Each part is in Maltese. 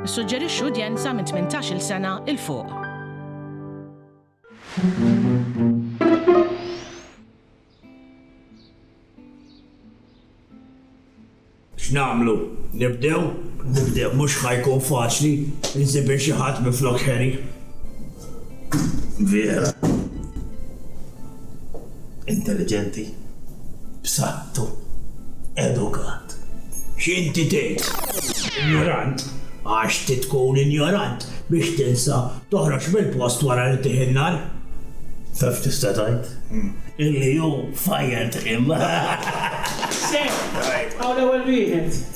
Nissuġġerixxu udjenza minn 18-il sena 'il fuq. X'nagħmlu? Nibdew? Nibdew. Mhux ħa jkun faċli, insib il xi ħadd minflok Harry. vera intelliġenti, b'saħħtu, edukat. X'inti tgħid? Injorant? Għax trid tkun injorant biex tinsa toħroġ mill-post wara li tih in-nar? Taf tista' tgħid? Illi hu fajjant him. Sew, hawn l-ewwel wieħed.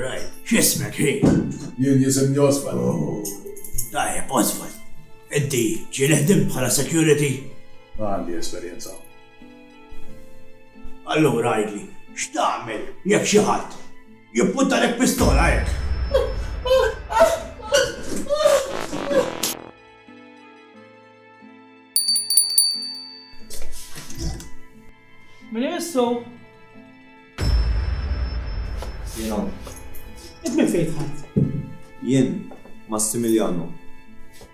Rajt, x'ismek hi? Jien jisimni Oswald. Oh, tajjeb, Oswald. Inti ġieli ħdimt bħala security? Ma għandi esperjenza. Allura għidli, x'tagħmel jekk xi ħadd jippuntalek pistola hekk? Min imissu? Jien hawn. Int minn fejn dħalt? Jien, Massimiliano.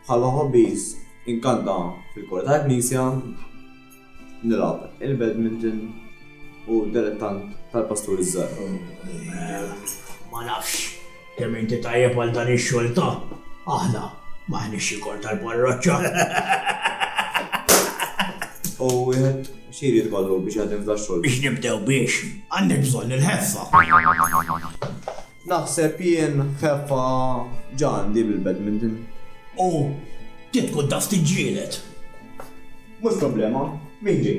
Bħala hobbies, inkanta fil-kor tal-knisja, nilgħab il-badminton u dilettant tal-pasturi ż-żgħar. Ma nafx. Kemm inti tajjeb għal dan ix-xogħol ta', aħna m'aħniex xi kor tal-parroċċa. U wieħed x'jrid ikollu biex jaħdem f'dan xogħol? Biex nibdew biex, għandek bżonn il-ħeffa. Naħseb jien ħeffa ġa għandi bil-badminton. U trid tkun taf tiġġieled. Mhux problema, min ġej?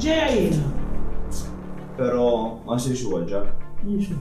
Ġejja jiena. Pero ma jsirx huwa l-ġar. Mhux hu.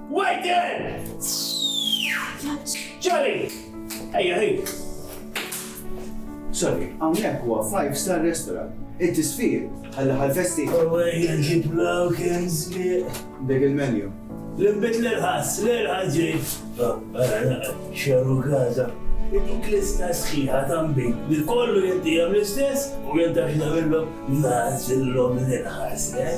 Waiter! Ċari! Ejja, ħin! Sorry, hawnhekk huwa five star restaurant. Inti sfir, ħalla ħal-festi. Ewwejja ġiblaw kien żbieq. Dik il-menu. L-imbit l-irħas, l-irħas ġejt. Xeru gaza. Dik lista sħiħa tambi li kollu jinti l-istess u jinta xnamillom nazillom l-irħas, eh?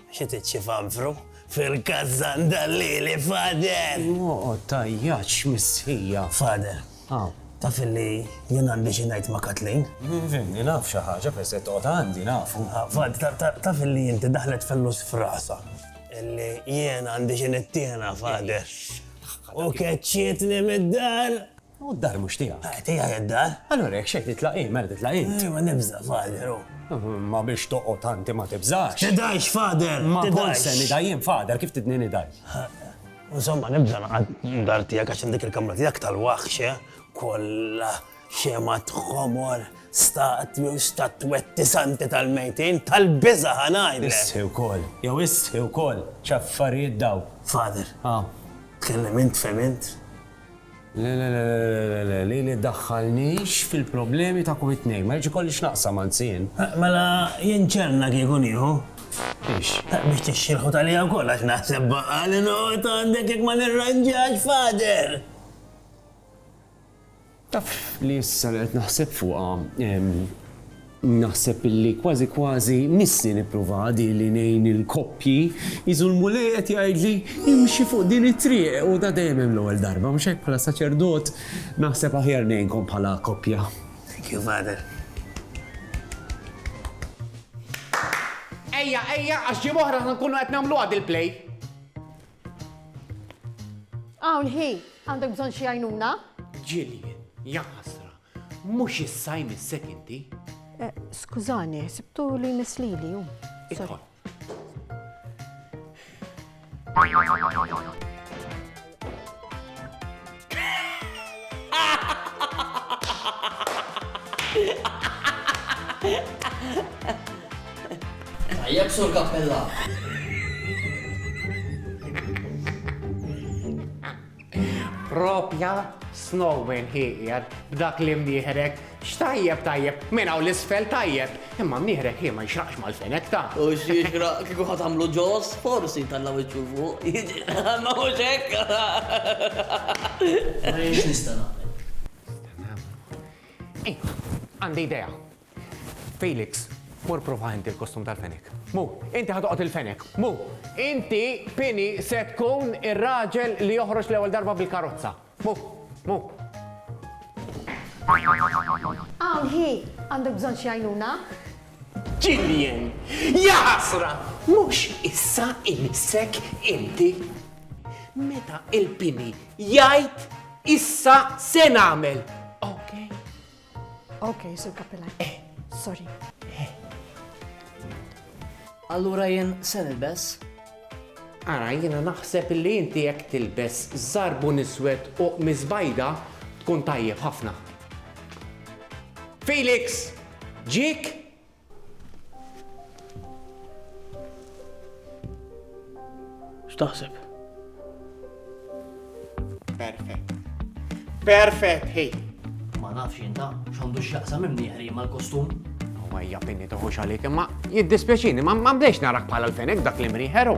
Xi tiċċifanfru fil-kazzan dal-lili, Father! Oqgħod tgħajjatx, missija! Father, taf illi jien għandi xi ngħid ma' Kathleen? Fimni, naf xi ħaġa peress li qed toqgħod għandi, nafu. Father, taf illi inti daħlet fellus f'rasha illi jien għandi xi nittiena, Father, u keċċietni mid-dar! U d-dar mhux tiegħek? Hi tiegħi d-dar. Allura jekk xejn titlaq hi, mela titlaq int. Hi ma nibża', Father, u. Imma biex toqgħod anti ma tibżax. Tidhajx, Father! Ma kont se nidha jien, Father, kif tidni nidhaj? U insomma nibża' naqgħad d-dar tiegħek għax hemm dik il-kamra tiegħek tal-waħx, eh? Kollha xemgħat ħomor, staqt jew statwetti santi tal-mejtin, tal-biża' ħa ngħidlek! Isħi wkoll, jew isħi wkoll, x'affarijiet dawn! Father, tkellem int, fhem int? Le le le le le le, lili ddaħħalnix fil-problemi ta' kum it-tnejn, ma rridx ikolli x'naqsam anzi jien. Mela jien ċenna kieku nieħu? Biex? Biex tixxilħut għalija wkoll għax naħseb baqgħa li noqgħod għandek jekk ma nirranġax Father! Taf li issa li qed naħseb fuqha, Naħseb illi kważi kważi missi nipprova di li ngħin il-koppji, iżu l-Mulej qed jgħidli imxi fuq din it-triq u da dejjem hemm l-ewwel darba, mhux hekk? Bħala saċerdot naħseb aħjar ngħinkom bħala koppja. Thank you Father. Ejja, ejja, għax ġimgħa oħra ħa nkunu qed nagħmluha dil-play. Hawn hi, għandek bżonn xi għajnuna? Jillian, ja ħasra, Mhux issa jmissek inti? Eh, skużani, sibtu li jmiss lili hu. Idħol. Tajjeb sur kappella. Proprja snowman hi qiegħed b'dak l-imnieħrek. X'tajjeb tajjeb, minn hawn 'l isfel tajjeb, imma mnieħrek hi ma jixraqx mal-fenek ta'. U x'jixraq kieku ħa tagħmlu ġos, forsi jtalla' wiċċu 'l fuq, jiġri, ma hux hekk? Nara jien x'nista' nagħmel. Ejja, għandi idea. Felix, mur provah inti l-kostum tal-fenek. Mu, inti ħa toqgħod il-fenek. Mu, inti, Pini, se tkun ir-raġel li joħroġ l-ewwel darba bil-karozza. Mu, mu. Hawn hi! Għandek bżonn xi għajnuna? Jillian, ja ħasra! Mhux issa imissek inti? Meta il-Pini jgħid issa se nagħmel, okej? Ok, Sur Kappilan. Eh. Sorry. Eh. Allura jien se nilbes? Ara, jiena naħseb li inti jekk tilbes zarbu niswed u mizbajda tkun tajjeb ħafna. Felix! Ġik? X'taħseb? Perfett. Perfett, hej. Ma nafx jinta, x'għandu x'jaqsam imnieħri mal-kostum. Huwa hija pinni toħux għalik, imma jiddispjaċini, ma mdejx narak bħala l-fenek dak li mriħeru.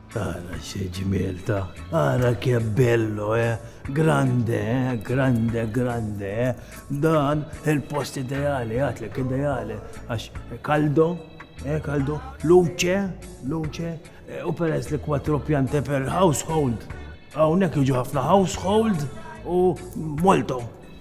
Ara xe ġmiel ta, ara che bello, eh? Grande, eh? Grande, grande, eh? Dan il-post ideali, għatlek ideali, għax kaldo, eh? Kaldo, luce, luce, eh, u peress li kwatro pjante per household. Għawnek iġu ħafna household u molto.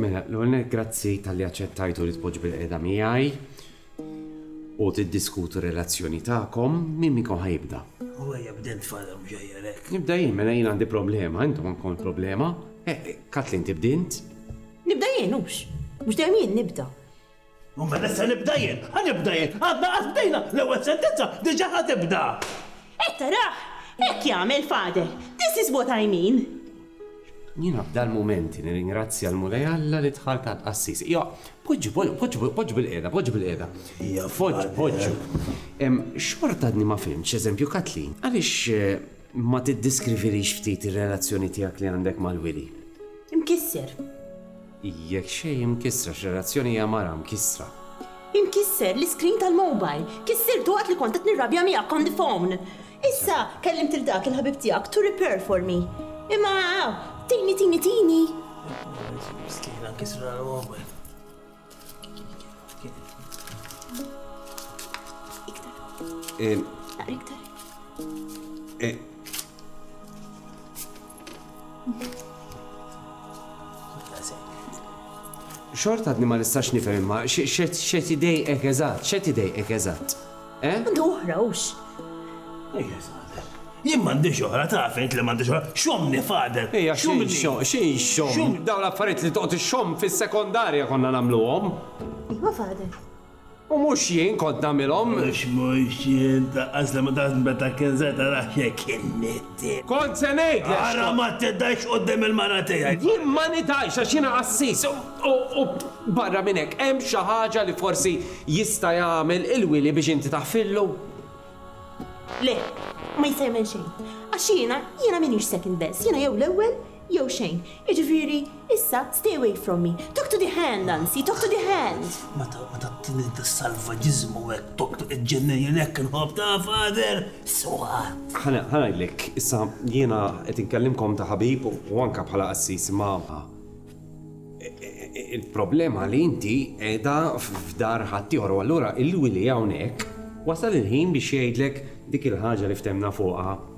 Mela, l-ewwel nett grazzi talli aċċettajtu li tpoġġu bilqiegħda miegħi u tiddiskutu r-relazzjoni tagħkom. Min minnkom ħa jibda? U ejja bda int Father Mġajjar hekk. Nibda jien, mela jien għandi problema, intom għandkom il-problema. Kathleen tibda int? Nibda jien hux? Mhux dejjem jien nibda. U meta se nibda jien? Ħa nibda jien? Għadna qatt bdejna, l-ewwel sentenza diġà ħa tibda! Qed tarah? Hekk jagħmel Father. This is what I mean. Jiena f'dal-mumenti nirringrazzja l-Mulej Alla li dħalt għand qassis. Ija, poġġu, poġġu, poġġu bil-qiegħda, poġġu bil-qiegħda. Ija, Father. Poġġu, poġġu. Xorta għadni ma fhimtx, eżempju, Kathleen, għaliex ma tiddiskrivilix ftit ir-relazzjoni tiegħek li għandek mal-Wili? Imkisser. Hi jekk xejn imkissra x'relazzjoni hija mara mkissra. Imkisser l-iskrin tal-mobile. Kissirtu waqt li kont qed nirrabja miegħek on the phone. Issa kellimt lil dak il-ħabib tiegħek to repair for me. Imma aw, tini tini tini! Miskina nkisrulha l-mobile. Iktar. Aqra iktar. Xort għadni ma nistax nifhem imma xed idejqek eżatt, xed idejqek eżatt. Eh? Għandu oħra hux. Jien m'għandix oħra taf int li m'għandix oħra. Xomni fader. Ejja xum xi xom. Daw l-affarijiet li toqgħod ixxomm fis-sekondarja konna nagħmluhom. Iva fader. U mhux jien kont nagħmilhom. Għax mhux jien ta' qasli ma tafx meta kien se tarax jekk inni t. Kont se ngħidlek x'kont. Ara ma tidhajx quddiem il-mara tiegħi. Jien ma nidhajx għax jiena qassis u, u barra minn hekk hemm xi ħaġa li forsi jista' jagħmel il-wili biex inti taħfillu? Le, ma jista' jagħmel xejn. Għax jiena, jiena m'iniex second best, jiena jew l-ewwel Jew xejn. Jiġifieri, issa, stay away from me. Talk to the hand, anzi, talk to the hand! Meta tagħtini dis-salvaġiżmu hekk, talk to the ġennin, jien hekk inħobb, ta' Father! Sewwa! Ħa ngħidlek, issa, jiena qed inkellimkom ta' ħabib u anke bħala qassis, imma il-problema li inti qiegħda f'dar ħaddieħor u allura il-wili hawnhekk wasal il-ħin biex jgħidlek dik il-ħaġa li ftehmna fuqha.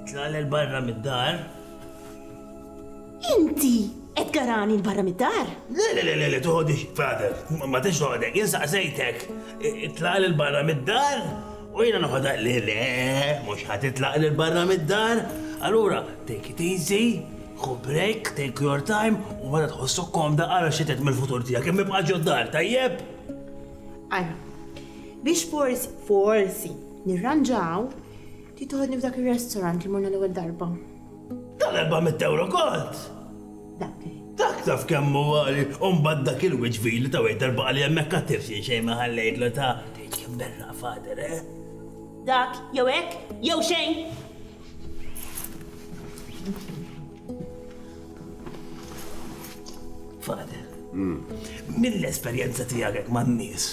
Itlal il barra mid-dar. Inti qed garani l barra mid-dar? Le, le, le, le, toħodix, Father, ma tix toħodek, insaqsejtek. Itlal il barra mid-dar? U jina noħodha li le, mhux ħadd itlaq lil barra mid-dar. Allura, take it easy, ħu break, take your time, u meta tħossok komda ara xi tgħid mill-futur tiegħek, kemm ibqa' ġod-dar, tajjeb? Ara, biex forsi, forsi, Nirranġaw, trid toħodni f'dak ir-restaurant li morna l-ewwel darba? Dan erba'mitt ewro kont! Dak li. Dak taf kemm hu għali u mbagħad dak il-wiċċ vili ta' waiter baqa' li hemmhekk għat-tips jien xejn ma ħallejtlu ta'. Tgħid kemm berraq fader, eh? Dak, jew hekk, jew xejn! Fader, mill-esperjenza tiegħek man-nies,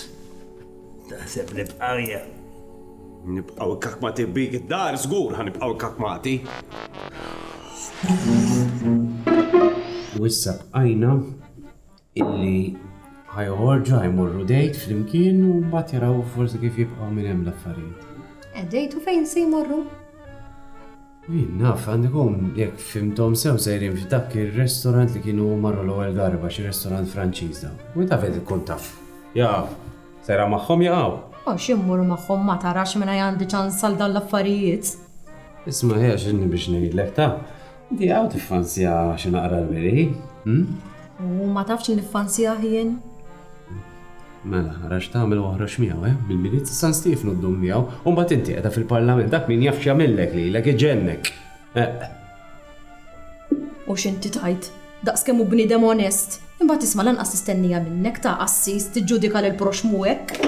Taħseb li bqarja? Nibqaw ikkakmati bik id-dar, żgur ħa nibqaw ikkakmati. U issa bqajna illi ħajħorġu ħajmorru dejt flimkien u mbagħad jaraw forsi kif jibqgħu minn hemm l-affarijiet. Eh, dejtu fejn se jmorru? Jien naf, għandi jkun, jekk fhimthom sew sejrin f'dak ir-restorant li kienu marru l-ewwel darba, xi restorant Franċiż dawn. U inta fejn tkun taf? Jaf. Sejra magħhom jaqgħu? Għax jien mmur magħhom ma tarax mingħajr għandi ċans għal dawn l-affarijiet. Isma' hi għax inni biex ngħidlek taf. Inti hawn tiffanzja xi naqra l-wiri, hm? U ma tafx li niffanzjah jien? Mela, ara x'tagħmel u oħroġ miegħu, eh? Bil-Milied ta' San Stiefnu ddum miegħu, u mbagħad inti qiegħda fil-Parlament, dak min jaf x'jagħmillek lilek, iġennek! Eqq. U x'inti tgħid? Daqs kemm hu bniedem onest! Imbagħad isma' lanqas nistennija minnek, ta' qassis, tiġġudika lill-proxxmu hekk!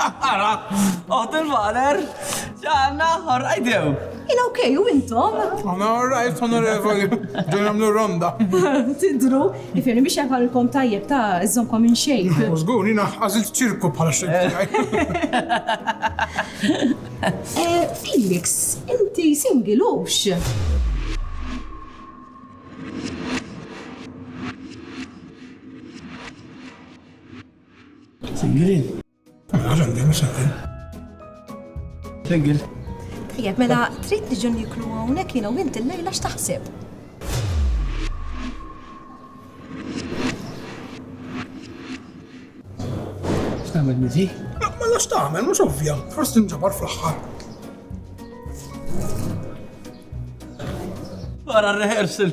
Ara, oħt il-baler, ġanna, ħorqajdew. Ina ok, u intom? Għana għorrajt, onorevoli, ġun għamlu ronda. Tidru, ifirni biex jafalkom tajjeb ta' izzomkom minn xejn. Użgur, jina għazil ċirku bħala xejn. Eh, Felix, inti singilux. Single. Għalan, għalan, għalan. Single. Tajjeb, mela trid niġu niklu hawnhekk jiena u inti l-lejla x'taħseb? X'tagħmel miżi? Ma mela lax tagħmel, mhux ovvja, forsi nġabar fl-aħħar. Wara r-rehearsal.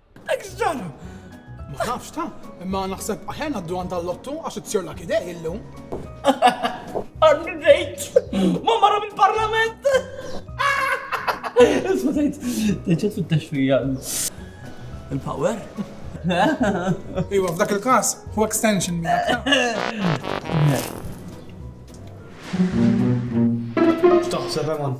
Extra! Ma nafx ta, imma naħseb aħjar naddu għand tal-lottu għax it-sir la kidej illum. Arni dejt! Ma marra mill-parlament! Isma dejt, deċet fit-taxfija. Il-power? Iwa, f'dak il-kas, hu extension miegħek. X'taħseb, Eman?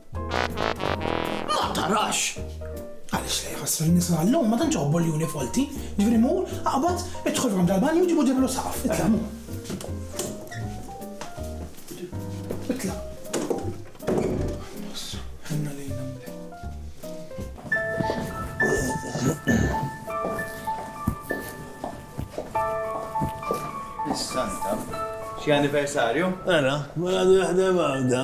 Ma tarax! Għaliex le jħassru n-nisa għallum ma tantx iħobbu l-juni folti, ġifieri mur, aqbad, idħol f'għand tal-banju ġibu ġiblu saqaf, itla' mur. Itla'. Ħenna lejna Is-Santa, xi anniversarju? Ara, ma għadu jaħdem għawda.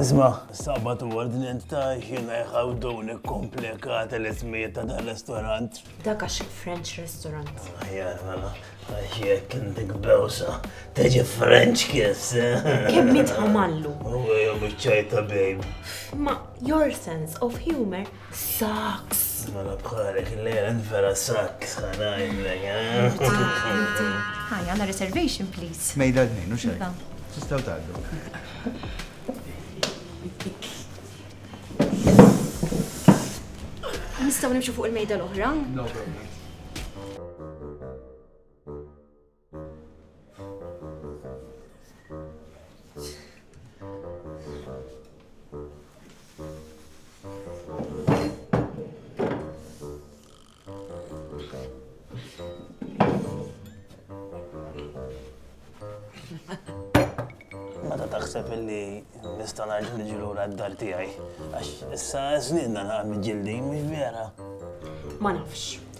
Isma, sabat u ordinent ta' xina jħaw doni komplikata l-ismijiet ta' dan restaurant. Dak għax French restaurant. Ajjar, ah, mela, għax jek indik bewsa, teġi French kiss. Kemm mitħamallu. U għajom iċċajta, babe. Ma, your sense of humor Saks! Mela bħalek il-lejla vera saks ħanajlek, Hi, għanna reservation, please. Mejda d-nejn, u xej. Iva. Tistaw taddu. Nistaw nimxu fuq il-mejda l-oħra? No problem. naħseb illi nista' ngħid li ġilu d-dar tiegħi. Għax issa żniedna naqgħod ġildi, mhux vera. Ma nafx.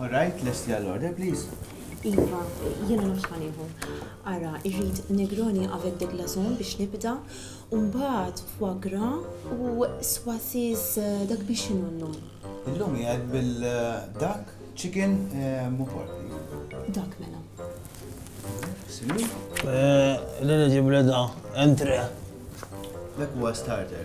All right, lesti għall-order, please. Iva, jiena nofs ħaniħu. Ara, irrid Negroni għaved de glazon biex nibda, umbaħt fuagra u swasis eh, dak biex inunnu. Illum jgħad bil-dak, eh, chicken, eh, mu pork. Dak mela. Sinu? L-għana ġibla da, entre. Dak huwa starter.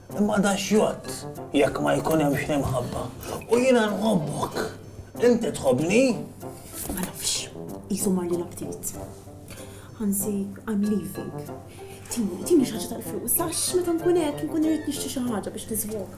Imma da x'jgħodd jekk ma jkun hemmx l-imħabba? U jiena nħobbok. Inti tħobbni? Ma nafx. Qisu mar lilha ftit. Ħansi, I'm leaving. Tini, tini xi ħaġa tal-flus, għax meta nkun hekk inkun irid nixtri xi ħaġa biex niżwoka.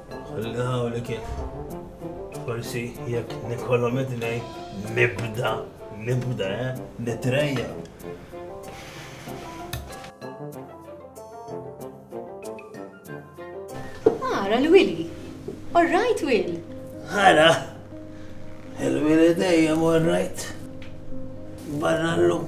Ħalli hawnhekk kif. Forsi jekk nikollhom idnej nibda, nibda, eh, nitrejja. Ara l-Willy. All right, Will. Ara. Il-Willy dejjem all right. Barra l-lum.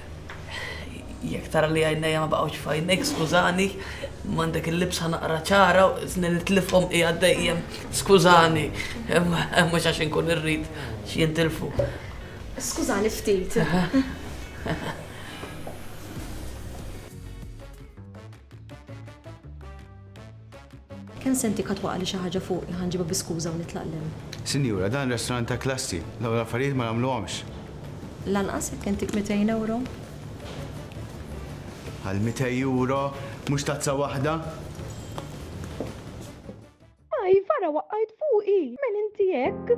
Jekk tara li għajnejja ma baqgħux f'għajnejk, skużani, m'għandek il-libsa naqra ċara, żni li tlifhom qiegħed dejjem, skużani, mhux għax inkun irrid xi jintilfu. Skużani ftit. Kemm se ntik ħa twaqagħli xi ħaġa fuqi ħa nġibha bi skuża u nitlaq l-hemm. Sinjura, dan restaurant ta' klassi, dawn l-affarijiet ma nagħmluhomx. Lanqas jekk intik mitejn ewro? Għal mitej ewro, mhux tazza waħda? Ajf, ara waqajt fuqi! M'hen inti hekk?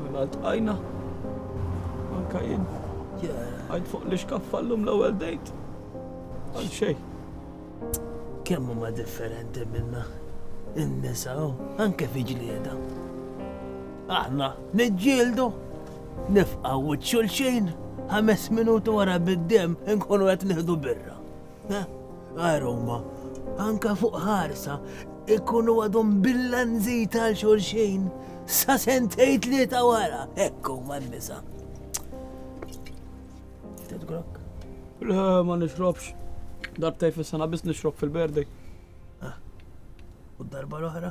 Mela ltqajna. Anka jien. Għajt fuq li xkaffa l-lum l-ewwel dejt. Għal xej. Kemm huma differenti minna. In-nisa u anke fi ġlieda. Aħna niġġieldu, nifqaw xulxin, ħames minuti wara bid-dem inkunu qed nieħdu birra. Għar huma, anke fuq ħarsa, ikunu għadhom bil-lanżit għal xulxin sa sentej tlieta wara, hekk huma n-nisa. Tidgrok? Le, ma nixrobx. Darbtej fis-sena biss nixrob fil-berdej. U darba l-oħra?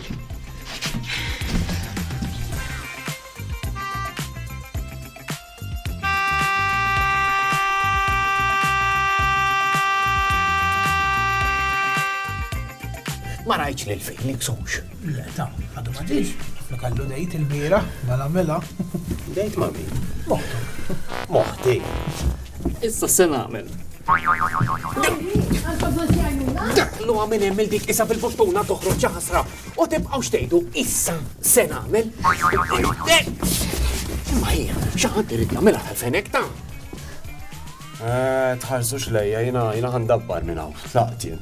Ma rajtx li l-Felix hux. Le, ta, għadu ma ġiex. Ma kallu dejt il-bira, mela mela. Dejt ma min? Moħtu. Moħti. Issa se nagħmel. Dak l minn hemm il dik isa bil-buttuna toħroġ ħasra u tibqgħu xtejdu issa se nagħmel. Ma hija, xi ħadd irid jagħmilha tal-fenek ta' Eh, tħarsux lejja, jina jina għandabbar minna, tlaqtien.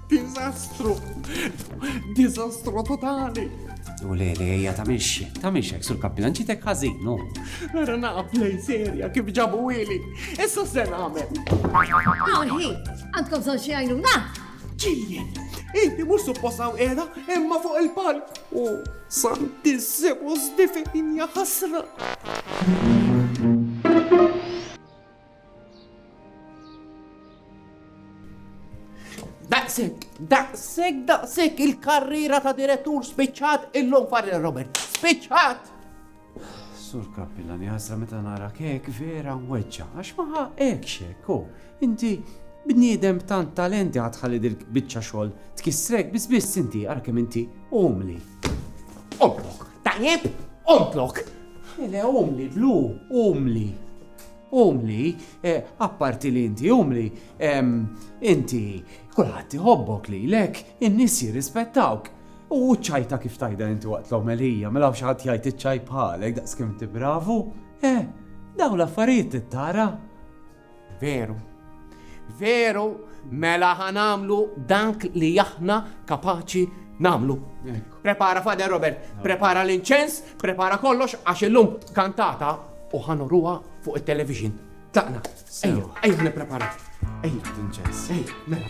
Diżastru! Diżastru totali! U le, le, ejja ta' minx, ta' minx hekk sur kappilan ġitek ħażinu. Nara naqab lej serja kif ġabu ili. Issa se nagħmel. Aħi, għandkom son xi għajnuna? Ġiljen, inti mhux supposaw era imma fuq il-palk. U santissimus difejn ħasra. Daqsek, daqsek, daqsek il-karriera ta' direttur spiċċat illum far Robert. Spiċċat! Sur Kappillan, jazra meta nara kek vera weġġa, għax maħa ekxek, ko, inti bniedem tant talenti għadħalli dil bicċa xol, tkissrek bis bis inti, għarkem inti, umli. Omlok, tajjeb, omlok. Ele, umli, blu, umli. Umli, apparti li inti umli, inti kulħadd iħobbok lilek, in-nies jirrispettawk. U ċ-ċajta kif tajda inti waqt l-omelija, mela xi ħadd jgħid iċ-ċaj bħalek daqskemm inti bravu? Eh, dawn l-affarijiet tittara. Veru, Veru, mela ħanamlu dak li aħna kapaċi namlu. Prepara Fader Robert, prepara l-inċens, prepara kollox għax illum kantata u ħanoruha fuq it-television. Taqna, ejja, ejja nipprepara. Ejja, l-inċens, ejja, mela.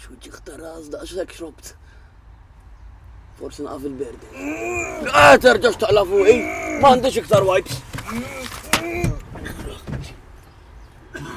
X'wiċċek ta' ras daqshekk xrobt. Forsi naqaf il-berdi. Ah, terġax taqla fuqi, m'għandix iktar wipes.